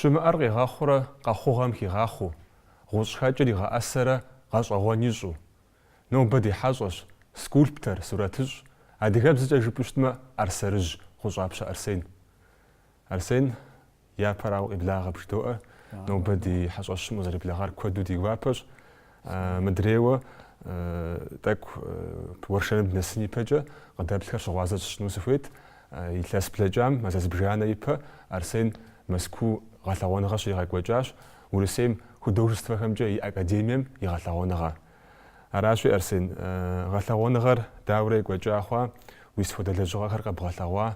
Щымыӏэр къигъэхъурэ къэхъугъэм хигъахъуу, гъущӏхэкӏыр игъэӏэсэрэ гъэщӏэгъуэн ищӏу. Нобэ ди хьэщӏэщ, скульптор, сурэтыщӏ, адыгэбзэкӏэ жыпӏэу щытмэ, ӏэрсэрыжь Гъущӏапщэ Арсен. Арсен, япэрауэ, къеблагъэ бжыдоӏэр, нобэ ди хьэщӏэщым укъызэреблэгъар куэду ди гуапэщ, Мыдрейуэ тӏэкӏу уэршэрым дынэсын ипэкӏэ къыдэплъхэр щыгъуазэ сщӏыну сыхуейт. Илъэс блэкӏам мазэ зыбжанэ ипэ Арсен Мэзкуу гъэлъэгъуэныгъэ щригъэкӏуэкӏащ Урысейм художествэхэмкӏэ и академием и гъэлъэгъуэныгъэ. Аращи, Арсен, гъэлъэгъуэныгъэр даурэ екӏуэкӏа хъуа, уи сыт хуэдэ лэжьыгъэхэр къэбгъэлъэгъуа,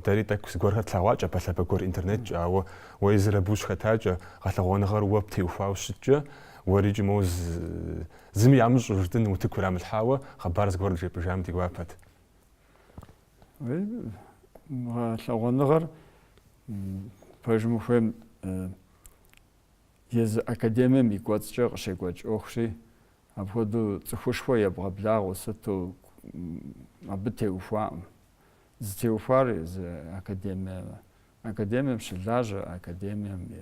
Дэри тӏэкӏу зыгуэрхэр тлъэгъуакӏэ, пэлъапӏэ гуэр интернеткӏэ, ауэ уэ езыр абы ущыхэтакӏэ, гъэлъэгъуэныгъэр уэ птеухуауэ щыткӏэ, уэрикӏи моуэ зыми ямыщӏу жытӏэн утыку ирамылъхьауэ хъыбар зыгуэр джепӏэжам ди гуапэт. Гъэлъэгъуэныгъэр пэжым ухуейм езы академием и кӏуэцӏкӏэ къыщекӏуэкӏ ӏуэхущи, Апхуэдэу цӏыхушхуэ ебгъэблагъэу сыту абы теухуакъым. Зытеухуар езы академиемэ. Академием щылажьэ, академием и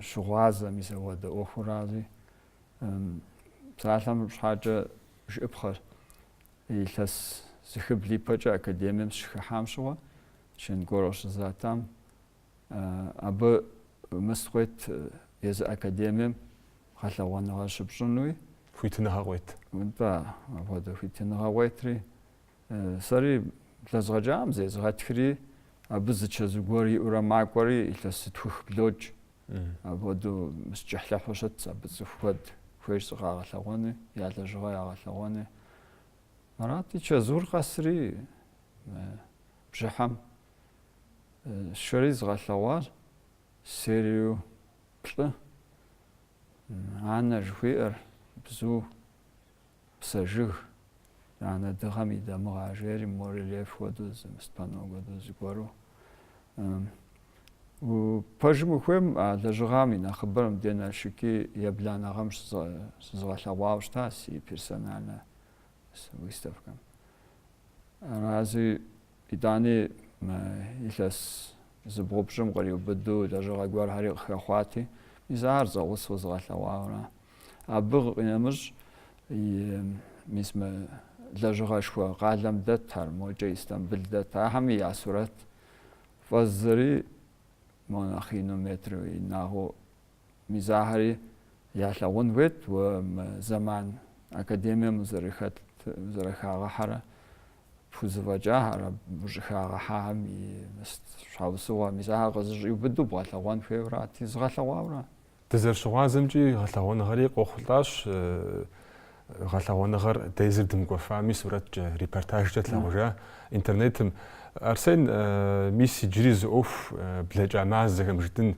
щыгъуазэм и зэхуэдэ ӏуэхурази. Псалъэм щхьэкӏэ жыӏэпхъэр илъэс зыхыбл ипэкӏэ академием сыщыхыхьам щыгъуэ, чин гуэр къыщызатам, Абы мыс къует езы академием гъэлъэгъуэныгъэ щыпщӏыну и хуитыныгъэ къует. Нтӏэ, апхуэдэ хуитыныгъэ къуетри. Сэри блэзгъэкӏакъым, зезгъэтхри, абы зы чэзу гуэр иӏэурэ макӏуэри, илъэс зытхух блокӏ. Апхуэдэу мыс кӏыхьлӏыхьу щытт, абы цӏыху куэд хуейщ зыкъагъэлъэгъуэни, я лэжьыгъэ ягъэлъэгъуэни. Арати, чэзур къэсри, бжьыхьэм Сшэри згъэлъэгъуащ сериеу плӏы Анэ жыхуиӏэр, бзу, псэ жыг, анэ дыгъэм и дамыгъэ жери барельеф хуэдэу зы мыс панно хуэдэу зыгуэру. Пэжым ухуейм а лэжьыгъэм и нэхъыбэр мыбдей Налшыки ебланэ гъэм щызгъэлъэгъуауэ щыта си персональнэ выставкэм. Арази Итӏани, мы илъэс зыбгъупщӏым къриубыдэу лэжьыгъэ гуэрхэри къыхэхъуати, мис ахэр зэгъусэу згъэлъэгъуауэ ара. Абы къинэмыщӏ, мис мы лэжьыгъэшхуэ къалэм дэтхэр, мокӏэ Истамбыл дэт, ахэми я сурэт фӏэздзэри мо нэхъ ину метр инагъыу Мис ахэри ялъагъун хуейт уэ мы зэман академием узэрыхэт, узэрыхагъэхьэрэ, пхузэфӏэкӏахэр, абы ущӏыхагъэхьахэм и щхьэусыгъуэр. Мис ахэр къызыщӏиубыдэу бгъэлъэгъуэн хуейуэ арати, згъэлъэгъуауэ ара? Дызэрыщыгъуазэмкӏи гъэлъэгъуэныгъэри къохъулӏащ. Гъэлъэгъуэныгъэр дэ езыр дымыкӏуэфами, сурэткӏэ, репортажкӏэ тлъагъужа интернетым. Арсен, мис иджыри зы ӏуэху блэкӏа мазэхэм жытӏэн,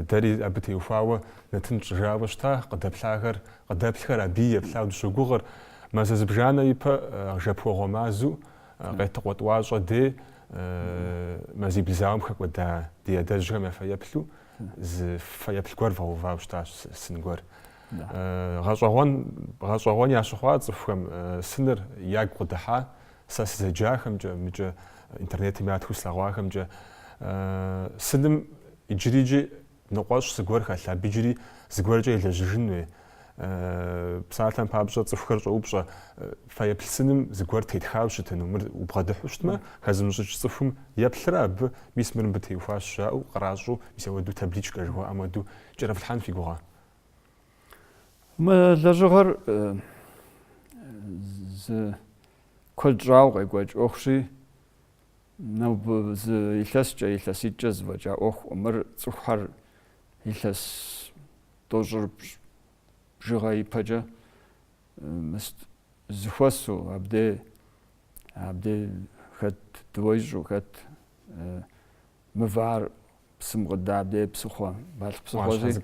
дэри абы теухуауэ нэтын тщӏыжауэ щыта, къыдэплъахэр, къыдэплъхэр абы еплъауэ дыщогугъыр. Мазэ зыбжанэ ипэ Жэпуэгъуэ мазэу, Къетыкъуэ тӏуащӏэ дей мазибл зауэм хэкӏуэда ди адэжьхэм я фэеплъу зы фэеплъ гуэр вгъэувауэ щытащ, сын гуэр. Гъэщӏэгъуэн, гъэщӏэгъуэн ящыхъуа цӏыхухэм сыныр ягу къыдыхьа, сэ сызэджахэмкӏэ, мыкӏэ интернетым ятхыу слъэгъуахэмкӏэ. Сыным иджырикӏи ныкъуэщӏ зыгуэр хэлъ, абы иджыри зыгуэркӏэ елэжьыжын хуей. Псалъэм папщӏэ, цӏыхухэр щӏоупщӏэ, фэеплъ сыным зыгуэр тетхауэ щытыну, мыр убгъэдыхьэу щытмэ, хэзымыщӏыкӏ цӏыхум еплърэ абы, мис мыр мыбы теухуащ жаӏэу къращӏэу, мис ауэду табличкэ жыхуаӏэм хуэдэу кӏэрыфлъхьэн фи гугъэ? Мы лэжьыгъэр зы куэд щӏауэ къекӏуэкӏ ӏуэхущи, нобэ зы илъэскӏэ, илъэситӏкӏэ зэфӏэкӏа ӏуэху. Мыр цӏыхухэр илъэс тӏощӏыр бжыгъэ ипэкӏэ зэхуэсу, абдей, абдей хэт дыуэ ищӏу, хэт мывэ ар псым къыдэ абдей псыхъуэ, Балъкъ псыхъуэщи.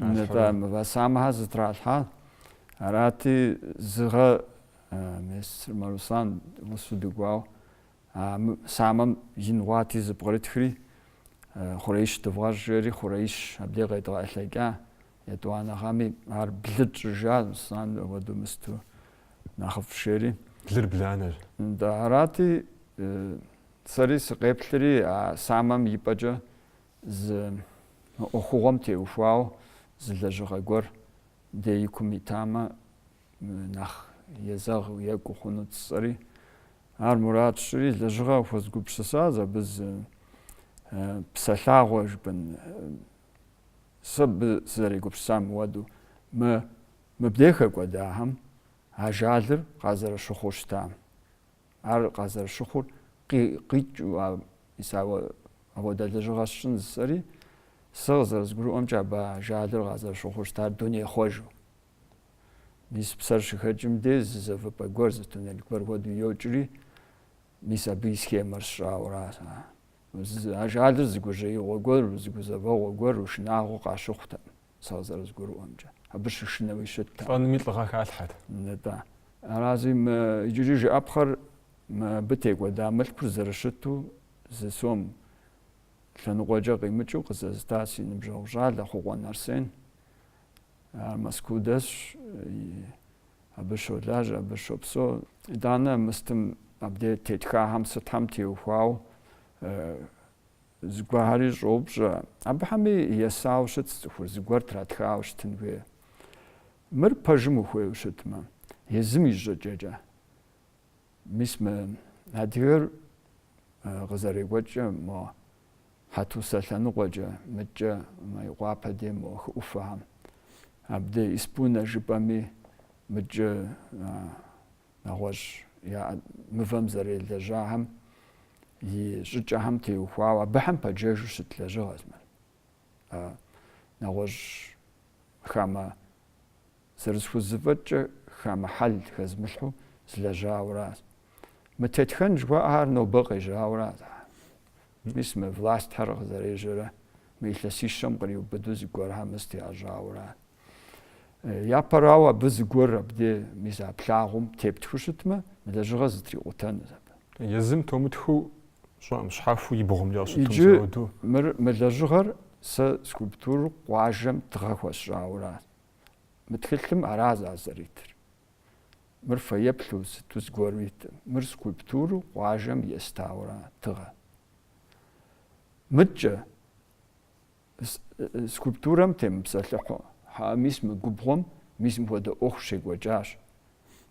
Нытӏэ, мывэ самэхэ зэтралъхьа. Арати, зы гъэм Црым Руслан гъусэу дыкӏуауэ, а самэм ин хъуати зэпкърытхри, хъуреищ дывгъэщӏ жери, хъуреищ абдей къедгъэтӏылъэкӏа. Етӏуанэ гъэми ар блы тщӏыжа, сан уэду мысту нэхъыфӏщ жери. Блыр бланэщ. Да, арати, Сэри сыкъеплъри а самэм и пӏэкӏэ зы мы ӏуэхугъуэм теухуауэ зы лэжьыгъэ гуэр дей и кум итамэ, нэхъ езэгъ екӏуу хъунут жысӏэри, ар мурад сщӏыри, лэжьыгъэ къыхуэзгупсысащ абы зы псэлъагъуэ жыпӏэн, сэ абы сызэрегупсысам хуэдэу, мы мыбдеж хэкӏуэдахэм ажалыр къазэрыщыхъуу щытам. Ар къазэрыщыхъур къикӏыу а мис ауэ апхуэдэ лэжьыгъэ сщӏын жысӏэри, сэ къызэрызгурыӏуэмкӏэ абы ажалыр къазэрыщыхъур щытар дунейхъуэжу. Мис псэр щыхэкӏым де зы зэвыпӏэ гуэр, зы туннель гуэр хуэдэу йокӏри, мис абы и схемэр сщӏауэра. Ажалыр зы гужьеигъуэ гуэр, зы гузэвэгъуэ гуэр, шынагъуэ къащыхъутэкъым. сэ къызэрызгурыӏуэмкӏэ, абы щышынэуи щыттэкъым. Лӏэными лӏыгъэ халъхьэт. Нтӏэ. Аращи мы иджыри жыӏэпхъэр мыбы текӏуэда мылъкур зэрыщыту зы сом лъэныкъуэкӏэ къимыкӏыу къызэзыта си ныбжьэгъу щӏалэ Хъукъуэн Арсен. Ар Мэзкуу дэсщ, абы щолажьэ, абы щопсэу. Итӏанэ мыстым абдеж тетхахэм сытхэм теухуауэ Зыгуэрхэри щӏоупщӏэ, Абыхэми есауэ щытт цӏыхур зыгуэр тратхауэ щытын хуейр. Мыр пэжым ухуейуэ щытмэ, езым и щӏыкӏэкӏэ. Мис мы адыгэр къызэрекӏуэкӏкӏэ мо Хьэтусэ лъэныкъуэкӏэ, мыдкӏэ Мейкъуапэ дей мо хы ӏуфэхэм. Абдей Испунэ жыпӏэми мыдкӏэ нэгъуэщӏ яӏэ мывэм зэрелэжьахэм и щӏыкӏэхэм теухуауэ абыхэм пэджэжу щыт лэжьыгъэщ мыр. Нэгъуэщӏ хамэ зэрысхузыфӏэкӏкӏэ хамэ хьэл хэзмылъхьу злэжьауэращ. Мы тетхэн жыхуаӏэхэр нобэ къежьауэращ. Мис мы властхэр къызэрежьэрэ мы илъэсищэм къриубыду зыгуэрхэр мыс тегъэжьауэращ. Япэрауэ абы зыгуэр абдей мис а плъагъум тептхыу щытмэ, мы лэжьыгъэр зэтрикъутэнут абы. Езым тумытхыу щӏэӏым, щхьэхуэу и бгъумкӏэ къыщытум Иджы зауэдэу. мыр, мы лэжьыгъэр сэ скульптуру къуажэм тыгъэ хуэсщӏауэра, мы тхылъым аращ зэритыр. Мыр фэеплъу сыту зыгуэру иткъым, мыр скульптуру къуажэм естауэра тыгъэ. Мыдкӏэ, Скульптурэм темыпсэлъыхьу, хьээ, мис мы губгъуэм мис мыпхуэдэ ӏуэху щекӏуэкӏащ.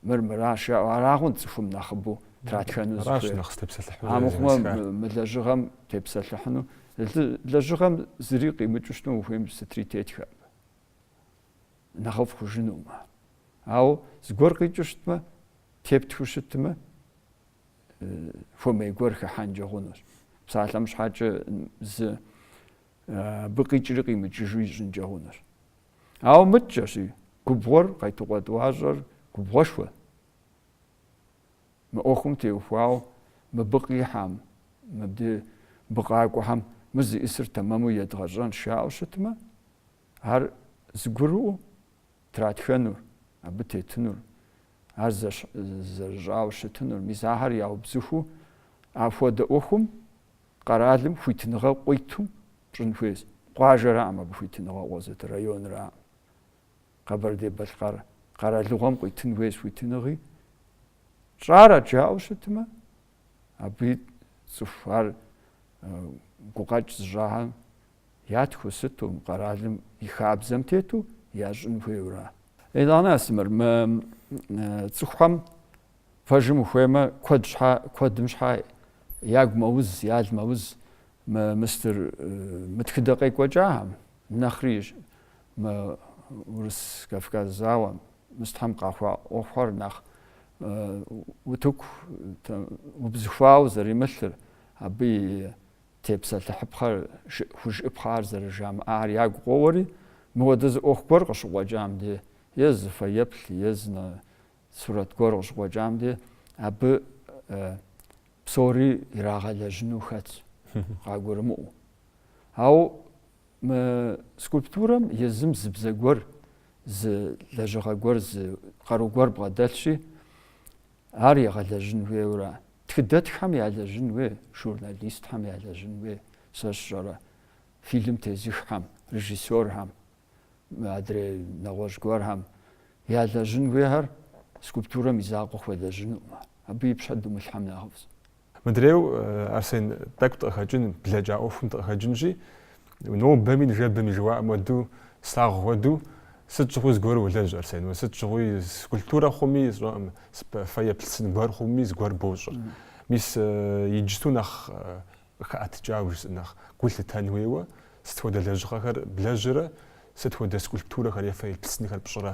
Мыр мыращ, жаӏэу арагъэнщ цӏыхум нэхъыбэу тратхэну зыхуейр. Амыхъумэ, мы лэжьыгъэм тепсэлъыхьыну, лэжьыгъэм зыри къимыкӏыу щытыну ухуейм сытри тетхэ абы, нэхъыфӏ хъужынумэ. Ауэ зыгуэр къикӏыу щытмэ, тептхыу щытмэ, хуэмей гуэр хыхьэнкӏэ хъунущ. Псалъэм щхьэкӏэ зы абы къикӏри къимыкӏыжу ищӏынкӏэ хъунущ. Ауэ мыдкӏэщи, губгъуэр, Къетыкъуэ тӏуащӏэр губгъуэшхуэ. Мы ӏуэхум теухуауэ мыбы къихьам, мыбы къакӏуэхэм мы зищӏысыр тэмэму едгъэщӏэн жаӏэу щытмэ, ар зыгурыӏуэу тратхэнур, абы тетынур Ар зэрыщӏауэ щытынур, мис ахэр яубзыхуу, апхуэдэ ӏуэхум къэралым хуитыныгъэ къуиту пщӏын хуейщ. Къуажэраӏым абы хуитыныгъэ къозытыр, районраӏым. Къэбэрдей-Балъкъэр къэралыгъуэм къуитын хуейщ хуитыныгъи. Тщӏар ар жаӏэу щытмэ, абы цӏыху ар гукъэкӏ зыщӏахэм Ятхыу сыту мы къэралым и хабзэм тету ящӏын хуейуэра? Итӏанэ, Астемыр, мы цӏыхухэм пэжым ухуеймэ, куэд щхьэ, куэдым щхьэ ягу мэуз, ял мэуз мы мыстыр, мы тхыдэ къекӏуэкӏахэм, нэхъри мы Урыс-Кавказ зауэм, мыстхэм къэхъуа ӏуэхухэр нэхъ утыку, убзыхуауэ зэримылъыр, абы и Тепсэлъыхьыпхъэр жыӏ хужыӏэпхъэхэр зэрыжамыӏэхэр ягу къоуэри, мыуэдэ зы ӏуэху гуэр къыщыкъуэкӏам де, е зы фэеплъ, е зы нэ сурэт гуэр къыщыкъуэкӏам де, абы псори ирагъэлэжьыну хэтщ, къагурымыӏуэу. Ауэ мы скульптурэм езым зы бзэ гуэр, зы лэжьыгъэ гуэр, зы къару гуэр бгъэдэлъщи, Ар егъэлэжьын хуейуэра? Тхыдэтххэм ялэжьын хуей, журналистхэм ялэжьын хуей, сэ сщӏэрэ, фильм тезыххэм, режиссерхэм, адрей нэгъуэщӏ гуэрхэм ялэжьын хуейхэр скульптурэм и закъуэ хуэлэжьынукъымэ. Абы и пщэ думылъхьэм нэхъыфӏщ. Мыдрейуэ, Арсен, тӏэкӏу дыкъыхэкӏын, блэкӏа ӏуэхум дыкъыхэкӏынщи, нобэми ныжэбэми жыхуаӏэм хуэдэу, слъагъу хуэдэу, сыт щыгъуи зыгуэру улэжь, Арсен, уэ сыт щыгъуи скульптурэ хъуми, сщӏэкъым, фэеплъ сын гуэр хъуми зыгуэр бощӏыр. Мис иджысту нэхъ къыхэӏэтыкӏауэ жысӏэ, нэхъ гу лъытэн хуейуэ, сыт хуэдэ лэжьыгъэхэр блэжьрэ, сыт хуэдэ скульптурэхэр е фэеплъ сынхэр пщӏырэ?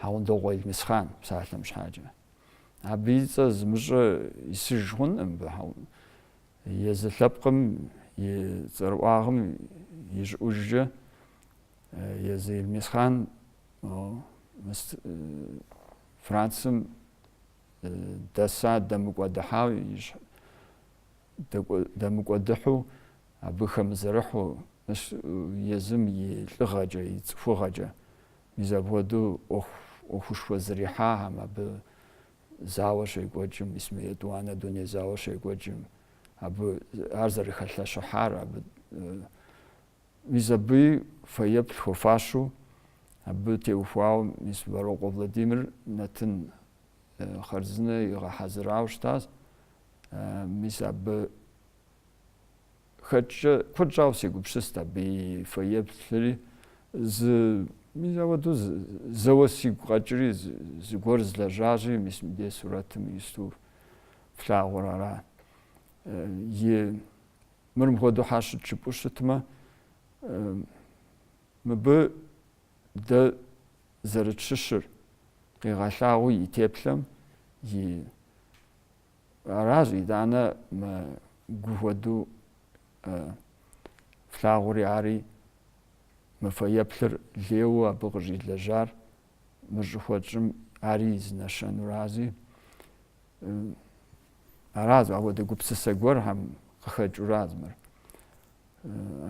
Хьэгъундокъуэ Елмэсхъан псалъэм щхьэкӏэ. Абы и цӏэ зымыщӏэ исыж хъункъым мыбы Хьэгъун. Езы лъэпкъым и цӏэрыӏуагъым и щӏыӏужкӏэ Езы Елмэсхъан Францым дэса дэмыкӏуэдыхьауэ дэмыкӏуэдыхьу абы хэмызэрыхьу Езым и лӏыгъэкӏэ, и цӏыхугъэкӏэ. Мис апхуэдэу ӏуэху, ӏуэхушхуэ зэрихьахэм, абы зауэ щекӏуэкӏым, мис мы етӏуанэ дуней зауэ щекӏуэкӏым, абы ар зэрыхэлъэщыхьар, абы, мис абы фэеплъ хуэфащэу, абы теухуауэ мис Вэрокъуэ Владимир нэтын хъарзынэ игъэхьэзырауэ щытащ, мис абы, хэкӏкӏэ куэд щӏауэ сегупсыст абы и фэеплъри, зы, мис ауэдэу зэуэ сигу къэкӏри, зыгуэр злэжьащи, мис мыбдей сурэтым ису флъагъур ара? И мыр мыхуэдэу хьэщыт щыпӏу щытмэ, мыбы дэ зэрытщыщыр къигъэлъагъуу и теплъэм, и Аращ итӏанэ мы гу хуэдэу флъагъури ари мы фэеплъыр лейуэ абы къыщӏилэжьар мыр щӏыхуэтщӏым ари зы нэщэнурази. Аращ апхуэдэ гупсысэ гуэрхэм къыхэкӏуращ мыр.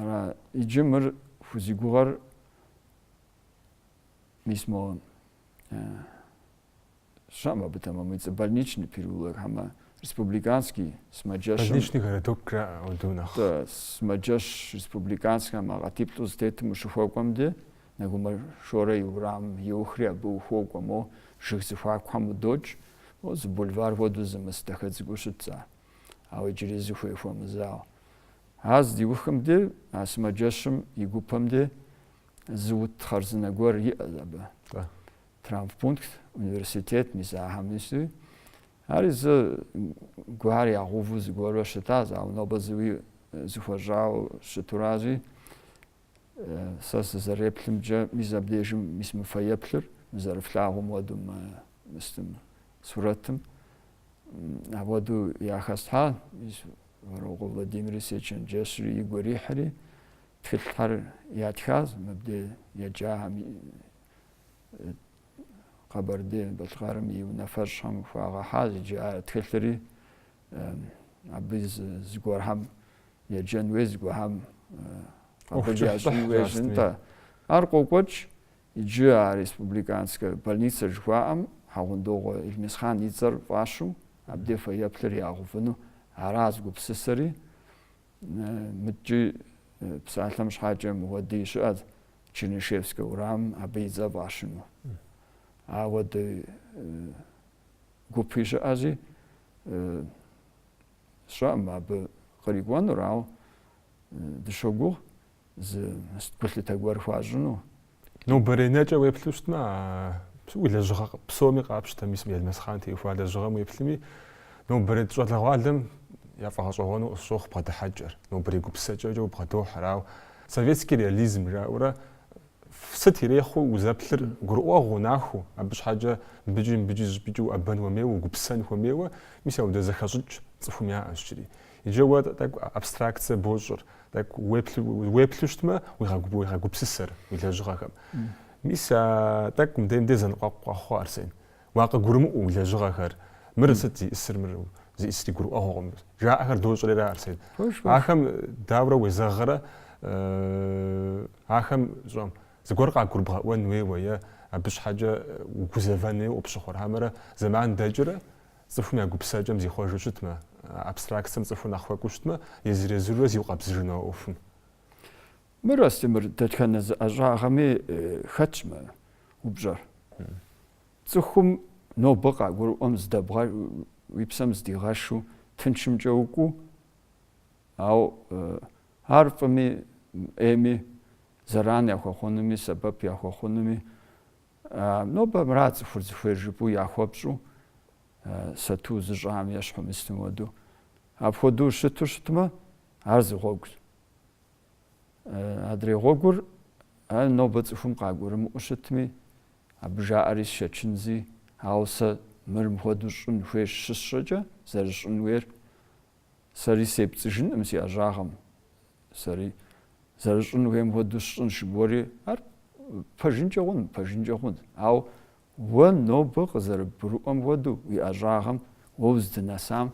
Ара иджы мыр хузигугъэр мис мо щыӏэм абы тэмэму и цӏэ, больничный переулок, хьэмэ республиканский сымаджэщым. Больничный городок жаӏэ ауду нэхъ. Тэ, сымаджэщ республиканскэм а къатиплӏу зэтетым ущыхуэкӏуэм ди, Нэгумэ Шорэ и уэрам иухри абы ухуокӏуэ, мо жыг зэхуакухэм удокӏ, о, зы бульвар хуэдэу зымыс дахэ цӏыкӏуу щытщ ар, ауэ иджыри зыхуей хуэмызауэ. Ар здиухым ди, а сымаджэщым и гупэм ди, зы ут хъарзынэ гуэр иӏэз абы. Тэ. Травмпункт, университет мис ахэм нисуи. Ари зыгуэр ягъэуву зыгуэрурэ щытащ, ауэ нобэ зыуи э, зэхуэщӏауэ щытуращи, э, сэ сызэреплъымкӏэ мис абдежым мис мы фэеплъыр мы зэрыфлъагъум хуэдэу мы мыстым сурэтым апхуэдэу яхэслъхьа Вэрокъуэ Владимири сечэнджэщри, игу ирихьри, тхылъхэр ятхащ мыбдей еджахэм Къэбэрдей-Балъкъэрым и унафэщӏхэм хуагъэхьащ иджы а тхылъри, абы зыгуэрхэм еджэн хуей зыгуэрхэм къабыл ящӏын хуейщ нтӏэ. Ар къокӏуэкӏ иджы а республиканскэ больницэ жыхуаӏэм Хьэгъундокъуэ Илмесхъан и цӏэр фӏащу, абдей фэеплъыр ягъэувыну ара зэгупсысри. Мыдкӏи псалъэм щхьакӏэ мыуэдий щыӏэт Чернышевскэ уэрам абы и цӏэ фӏащыну. Ауэдэ гупи щыӏэзи сщӏэӏым абы кърикӏуэнур, ауэ дыщогугъ Зы гулъытэ гуэр хуащӏыну. Нобэрей нэкӏэ уеплъу щытмэ, а уи лэжьыгъэ псоми къапщтэ, мис уи Илмесхъан теухуа лэжьыгъэм уеплъыми, нобэрей щӏалэгъуалэм яфӏэгъэщӏэгъуэну къысщохъу бгъэдыхьэкӏэр, нобэрей гупсысэкӏэкӏэ убгъэдохьэр, ауэ советский реализм жаӏэурэ сыт ирехъуу узэплъыр гурыӏуэгъуэу нахуэу, абы щхьэкӏэ мыбыкӏи мыбыкӏи зыщӏыпӏэкӏи уӏэбэн хуэмейуэ, угупсысэн хуэмейуэ, мис ауэдэ зэхэщӏыкӏ цӏыхум яӏэщ иджыри. Иджы уэ тӏэкӏу абстракцэ бощӏыр, тӏэкӏу уеплъу щытмэ, уегъэгупсысэр уи лэжьыгъэхэм. Мис а тӏэкӏу мыдей-мыдей зэныкъуэкъу къэхъуа, Арсен. Уакъыгурымыӏуэ уи лэжьыгъэхэр, мыр сыт зиӏысыр, мыр зиӏысри гурыӏуэгъуэкъым, жаӏэхэр дощӏэри, Арсен. Ахэм дауэрэ уезэгърэ, ахэм щӏэм зыгуэр къагурыбгъэӏуэн хуейуэ е абы щхьэкӏэ угузэвэн хуейуэ къыпщыхъур, хьэмэрэ зэман дэкӏрэ, Цӏыхум я гупсысэкӏэм зихъуэжу щытмэ, абстракцэм цӏыхур нэхъ хуэкӏуу щытмэ, езыр-езырурэ зиукъэбзыжыну а ӏуэхум. Мыр, а стемыр, дэтхэнэ зы ӏэщӏагъэми хэтщ мы упщӏэр. Цӏыхум нобэ къагурыӏуэм здэбгъэ, уи псэм здигъэшу тыншымкӏэ укӏуу, ауэ ар фӏыми ӏейми зэран яхуэхъунуми, сэбэп яхуэхъунуми, Нобэ мыра цӏыхур зыхуейр жыпӏэу яхуэпщӏу сату зыщӏам ещхьу мыстым хуэдэу. Апхуэдэу щыту щытмэ, ар зы гъуэгущ. Адрей гъуэгур ар нобэ цӏыхум къагурымыӏу щытми, абы жаӏэри сшэчынзи, ауэ сэ мыр мыхуэдэу щӏын хуейщ щысщӏэкӏэ, зэрыщӏын хуейр Сэри сепцӏыжынкъым си ӏэщӏагъэм. Сэри зэрыщӏын хуейм хуэдэу сщӏынщ жыбоӏэри. Ар пэжынкӏэ хъун, пэжынкӏэ хъунт. Ауэ уэ нобэ къызэрыбгурыӏуэм хуэдэу уи ӏэщӏагъэм уэ узыдынэсам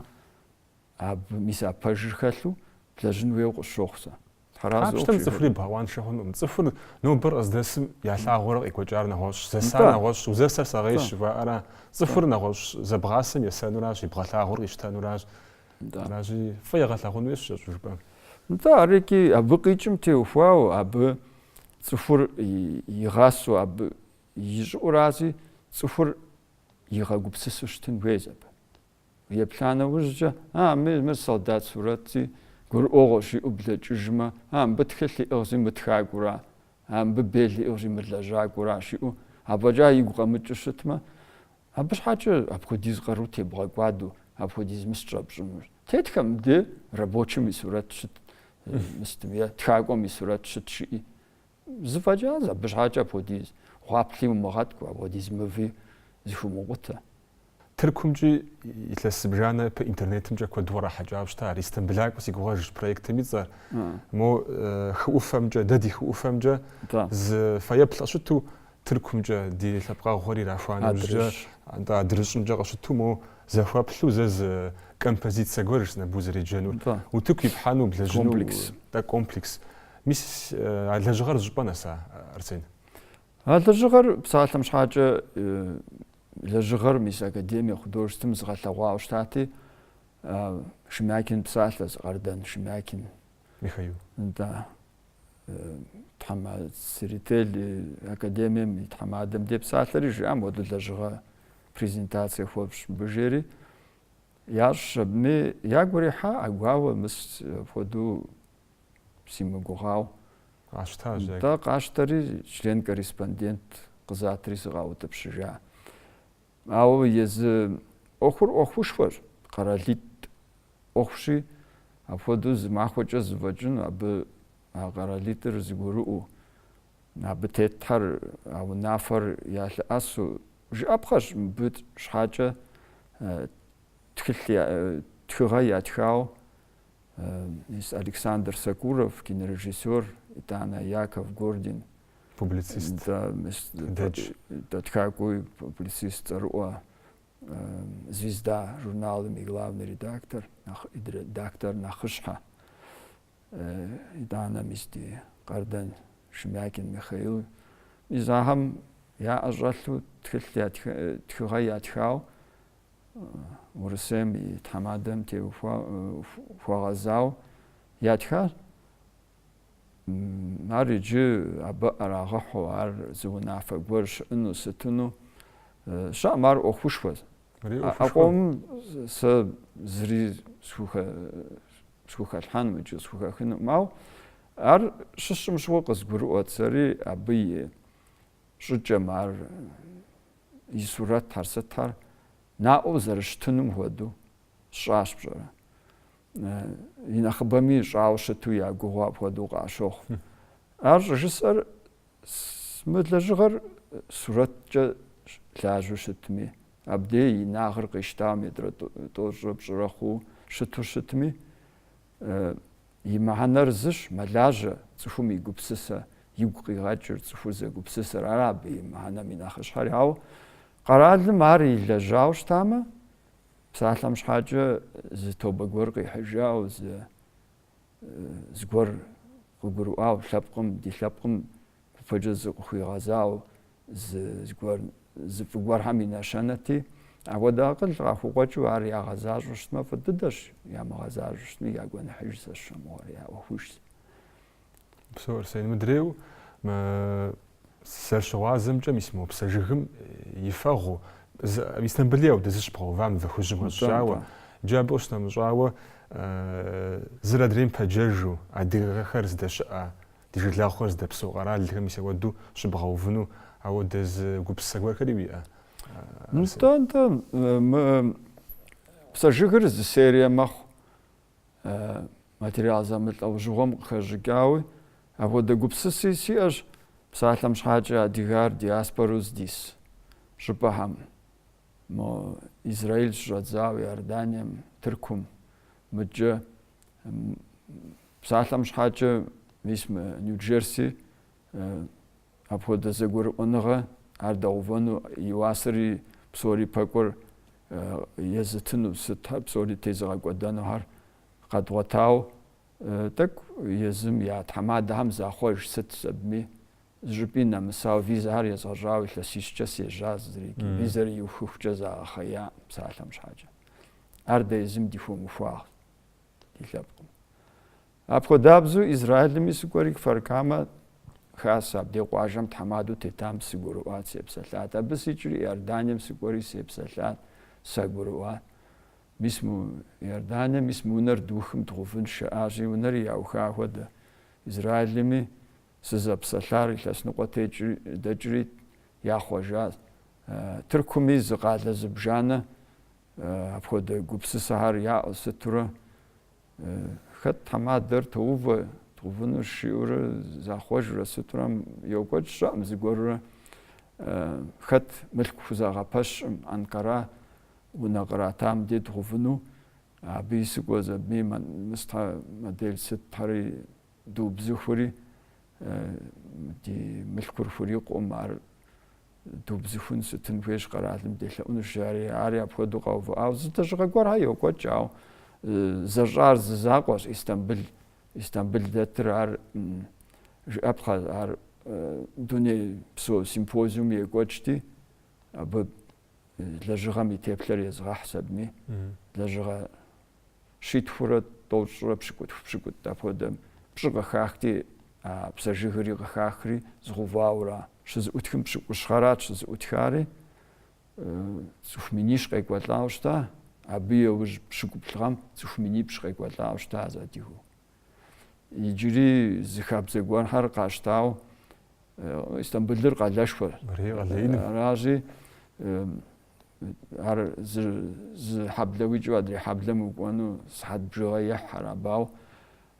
абы, мис а пэжыр хэлъу блэжьын хуейуэ къысщохъу сэ. Папщтэм цӏыхури бгъэкъуаншэ хъунукъым. Цӏыхур нобэр къыздэсым ялъагъуурэ къекӏуэкӏар нэгъуэщӏщ, зэсар нэгъуэщӏщ, узэсэр сэгъейщ жыхуаӏэра? Цӏыхур нэгъуэщӏ зэбгъасэм есэнуращ, ебгъэлъагъур къищтэнуращ. Аращи, фӏы егъэлъагъун хуейщ кӏэщӏу жыпӏэм. Нтӏэ, арикӏи, абы къикӏым теухуауэ, абы цӏыхур игъасэу, абы ищӏыӏурази цӏыхур игъэгупсысу щытын хуейщ абы. Еплъа нэужькӏэ, а, мы, мыр солдат сурэтщи, гурыӏуэгъуэщ, жиӏэу блэкӏыжмэ, а, мыбы тхылъ иӏыгъщи, мы тхакӏуэра, а, мыбы бел иӏыгъщи, мы лэжьакӏуэращ, жиӏэу афӏэкӏа игу къэмыкӏыу щытмэ, абы щхьэкӏэ апхуэдиз къару тебгъэкӏуаду, апхуэдиз мыс щӏэпщӏынущ. Тетхэ мыдэ рабочим и сурэт щыт, мыстым е тхакӏуэм и сурэт щыт, жыӏи. Зэфӏэкӏащ, абы щхьэкӏэ апхуэдиз гъуаплъи умыгъэткӏу, апхуэдиз мыви зэхыумыкъутэ. Тыркумкӏи илъэс зыбжанэ ипэ интернетымкӏэ куэду кърахьэкӏауэ щыта, ар Истамбылакӏуэ си гугъэщ проектым и цӏэр. Мо хы ӏуфэмкӏэ, дэ ди хы ӏуфэмкӏэ, зы фэеплъ къыщыту, Тыркумкӏэ ди лъэпкъэгъухэр ирахуа нэужькӏэ, атӏэ адрыщӏымкӏэ къыщыту, моу зэхуэплъу зэ зы композицэ гуэр, сыт абы узэреджэнур. Утыку ипхьэну, блэжьыну, атӏэ комплекс. Мис а лэжьыгъэр зыщӏыпӏэ нэса, Арсен? А лэжьыгъэр псалъэм щхьакӏэ лэжьыгъэр мис Академия художествэм зыгъэлъэгъуауэ щытати, Шемякин псалъэщ, Къардэн Шемякин. Михаил. Да. тхьэмэ Церетели академием и тхьэмадэм де псалъэри жиӏа моуэду лэжьыгъэ презентацие хуэфщӏ мыбы жери ящӏщ абыми ягу ирихьа ӏэгуауэ мыс апхуэду симыгугъау къащтащ дэ къащтэри член корреспондент къызатри сыкъаутӏыпщыжа Ауэ езы ӏуэхур ӏуэхушхуэщ, къэралитӏ ӏуэхущи, апхуэдэу зы махуэкӏэ зэфӏэкӏыну, абы а къэралитӏыр зэгурыӏуэу, абы тетхэр, а унафэр ялъэӏэсу жыӏэпхъэщ. Мыбы щхьэкӏэ тхылъ, тхыгъэ ятхауэ мис Александр Сокуров, кинорежиссёр, итӏанэ Яков Гордин, Публицист. Да, да. Да, тхакӏуи публицист цӏэрыӏуэ Звезда журналым и главный редактор, редактор нэхъыщхьэ. Итӏанэ мис ди Къардэн Шемякин Михаил. Мис ахэм яӏэ щӏэлъу тхылъ тхыгъэ ятхау Урысейм и тхьэмадэм де хуэгъэзау ятхащ. Ар иджы абы ӏэрагъэхьу ар зы унафэ гуэр щыӏыну сытыну щыӏэм ар ӏуэхушхуэщ. А къомым сэ зыри схухэлъхьэнум икӏи схухэхынукъым, ау ар щысщӏым щыгъуэ къызгурыӏуэт сэри абы и щӏыкӏэм ар и сурэтхэр сытхэр наӏуэу зэрыщытынум хуэдэу сщӏащ пщӏэрэ. и нэхъыбэми щӏауэ щыту я гугъэу апхуэдэу къащохъу. Ар щӏыжысӏэр мы лэжьыгъэр сурэткӏэ лажьэу щытми, абдей и инагъыр къищтауэ метрэ тӏощӏрэ пщӏырэ хъуу щыту щытми, и мыхьэнэр зыщ, мэлажьэ, цӏыхум и гупсысэ, игу къигъэкӏыр, цӏыхур зэгупсысэр, ара абы и мыхьэнэм и нэхъыщхьэри. Ауэ къэралым ар илэжьауэ щытамэ, Псалъэм щхьэкӏэ зы тобэ гуэр къихьыжау, зы зыгуэр къыгурыӏуау, лъэпкъым, ди лъэпкъым гупэкӏэ зыкъыхуигъэзау, зы зыгуэр зы фӏы гуэрхэм и нэщэнэти, апхуэдэ акъыл къахукъуэкӏыу ар ягъэзащӏэу щытмэ, фӏы дыдэщ, ямыгъэзащӏэу щытми, я гуэныхьыжщ сэ сщӏэ мыгъуэр, я ӏуэхужщ. Псо Арсен, мыдрейу зэрыщыгъуазэмкӏэ мис мо псэ жыгым и фэгъу Истанбули ауэдэ зы щыбгъэува мывэ хужьым къыхэщӏауэ. Иджы абы къыщынэмыщӏауэ зыр адрейм пэджэжу адыгэхэр здэщыӏэ, ди жылагъухэр здэпсэу къэралхэм мис ауэду щыбгъэувыну ауэдэ зы гупсысэ гуэрхэри уиӏэ? Нтӏэ, нтӏэ. Псэ жыгыр зы серие мэхъу. материал зэмылӏэужьыгъуэм къыхэщӏыкӏауи, апхуэдэ гупсыси сиӏэщ псалъэм щхьэкӏэ адыгэр диаспорэу здис щӏыпӏэхэм, мо Израиль щыщӏэдзауэ, Иорданием, Тыркум, мыдкӏэ, псалъэм щхьэкӏэ мис мы Нью-Джерси Апхуэдэ зэгурыӏуэныгъэ ар дэдгъэувэну, и уасэри псори пэкӏуэр езытыну, сытхэр псори тезыгъэкӏуэдэнухэр къэдгъуэтау, тӏэкӏу езым я тхьэмадэхэм захъуэж сытщ, абыми зыщӏыпӏи нэмысау визэхэр езгъэщӏауэ илъэсищкӏэ сежьа зырикӏи, визэр иухыхукӏэ загъэхъея псалъэм щхьэкӏэ. Ар дэ езым ди хуэмыхуагъ ди лъэпкъым. Апхуэдабзэу Израилми сыкӏуэри Кфар-Камэ хасэ, абдей къуажэм тхьэмадэу тетам сыгурыӏуат, сепсэлъат. Абы сикӏри Иорданием сыкӏуэри сепсэлъат, сагурыӏуат. Мис мы Иорданием, мис мы унэр духым дгъэувынщ жаӏащи, унэри яуха хуэдэ. Израилми сызэпсэлъар илъэс ныкъуэ дэкӏри яхъуэжащ. Тыркуми зы къалэ зыбжанэ апхуэдэ гупсысэхэр яӏэу сытурэ Хэт тхьэмадэр тоувэ, дгъэувыну жиӏэурэ захъуэжрэ сытурэ йокӏуэкӏ щыӏэм зыгуэрурэ хэт мылъку хузэгъэпэщкъым Анкара унэ къратам дей дгъэувыну, абыи сыкӏуэщ, абыми мыстхьэ модель сытхэри Дубзыхури, ди мылъкур хурикъукъым, ар дубзыхун сытын хуейщ, къэралым делъэӏунущ, жари, ари апхуэдэу къэувыӏауэ. Зы лэжьыгъэ гуэрхьэ йокӏуэкӏ, ауэ зэщӏар зы закъуэщ, Истамбыл. Истамбыл дэтыр ар жыӏэпхъэ, ар дуней псо симпозиум екӏуэкӏти, абы лэжьыгъэм и теплъэр езгъэхьщ, абыми, лэжьыгъэ щитхурэ тӏощӏрэ пщыкӏутху пщыкӏутӏ апхуэдэм пщӏы къыхахти, а псэ жыгыри къыхахри згъэувауэра, щызэӏутхым пщыкӏущ гъэрат щызэӏутхари, цӏыху минищ къекӏуэлӏауэ щыта, абы еужь пщыкӏуплӏ гъэм цӏыху минипщӏ къекӏуэлӏауэ щыта зэдигу. Иджыри зы хабзэ гуэрхэр къащтауэ Истамбылыр къалэшхуэр. Аращи, ар зы зы хьэблэ уикӏыу адрей хьэблэм укӏуэну сыхьэт бжыгъэ ехь арабау.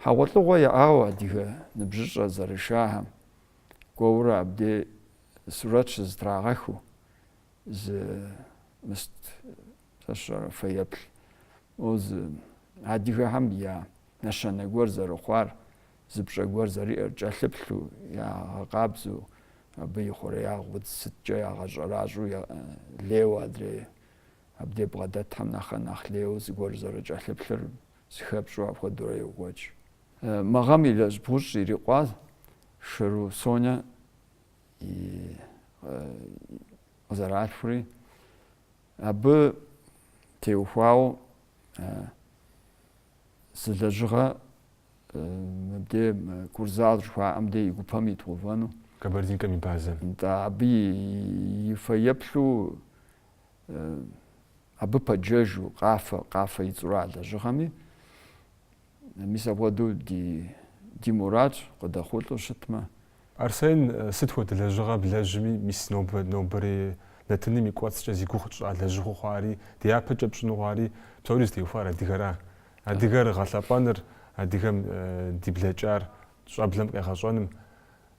Хьэгъуэлӏыгъуэ яӏауэ адыгэ ныбжьыщӏэ зэрышахэм кӏуэурэ абдей сурэт щызытрагъэхыу зы мыст Фэщӏэрэ фэеплъу езы адыгэхэм я нэщэнэ гуэр зэрыхъуар, зы пщӏэ гуэр зэриӏэр кӏэлъыплъу, ягъэкъабзэу, абы и хъуреягъ удз сыткӏэ ягъэщӏэращӏэу лейуэ адрей абдей бгъэдэтхэм нэхърэ нэхъ лейуэ зыгуэр зэрыкӏэлъыплъыр зыхэпщӏу апхуэдэурэ йокӏуэкӏ. Мы гъэм илъэс бгъущӏ ирикъуа Шэру Сонэ и къызэралъхури, Абы теухуауэ зы лэжьыгъэ мыбдей Курзал жыхуаӏэм де и гупэм идгъэувэну. Кабардинкэм и базэм. Да, абы и фэеплъу абы пэджэжу Къафэ, Къафэ и цӏэр а лэжьыгъэми, Мис апхуэдэу ди ди мурадщ, къыдэхъулӏэу щытмэ. Арсен, сыт хуэдэ лэжьыгъэ блэжьми, мис нобэ, нобэрей нэтыным и кӏуэцӏкӏэ зи гугъу тщӏа лэжьыгъэу хъуари, дяпэкӏэ пщӏыну хъуари, псори зытеухуар адыгэра? Адыгэр гъэлъэпӏэныр, адыгэм ди блэкӏар щӏэблэм къегъэщӏэным,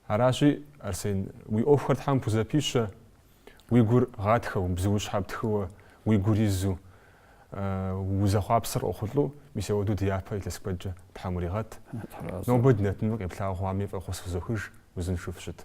Аращи, Арсен, уи ӏуэхухэр Тхьэм пхузэпищэ, уи гур гъатхэу, бзуущхьэ птхыуэ, уи гур изу, узэхъуапсэр къохъулӏэу, мис ауэду ди япэ илъэс куэдкӏэ Тхьэм уригъэт. Нобэ ди нэтыным къеплъауэ хъуами фӏэхъус фызохыж, узыншэу фыщыт.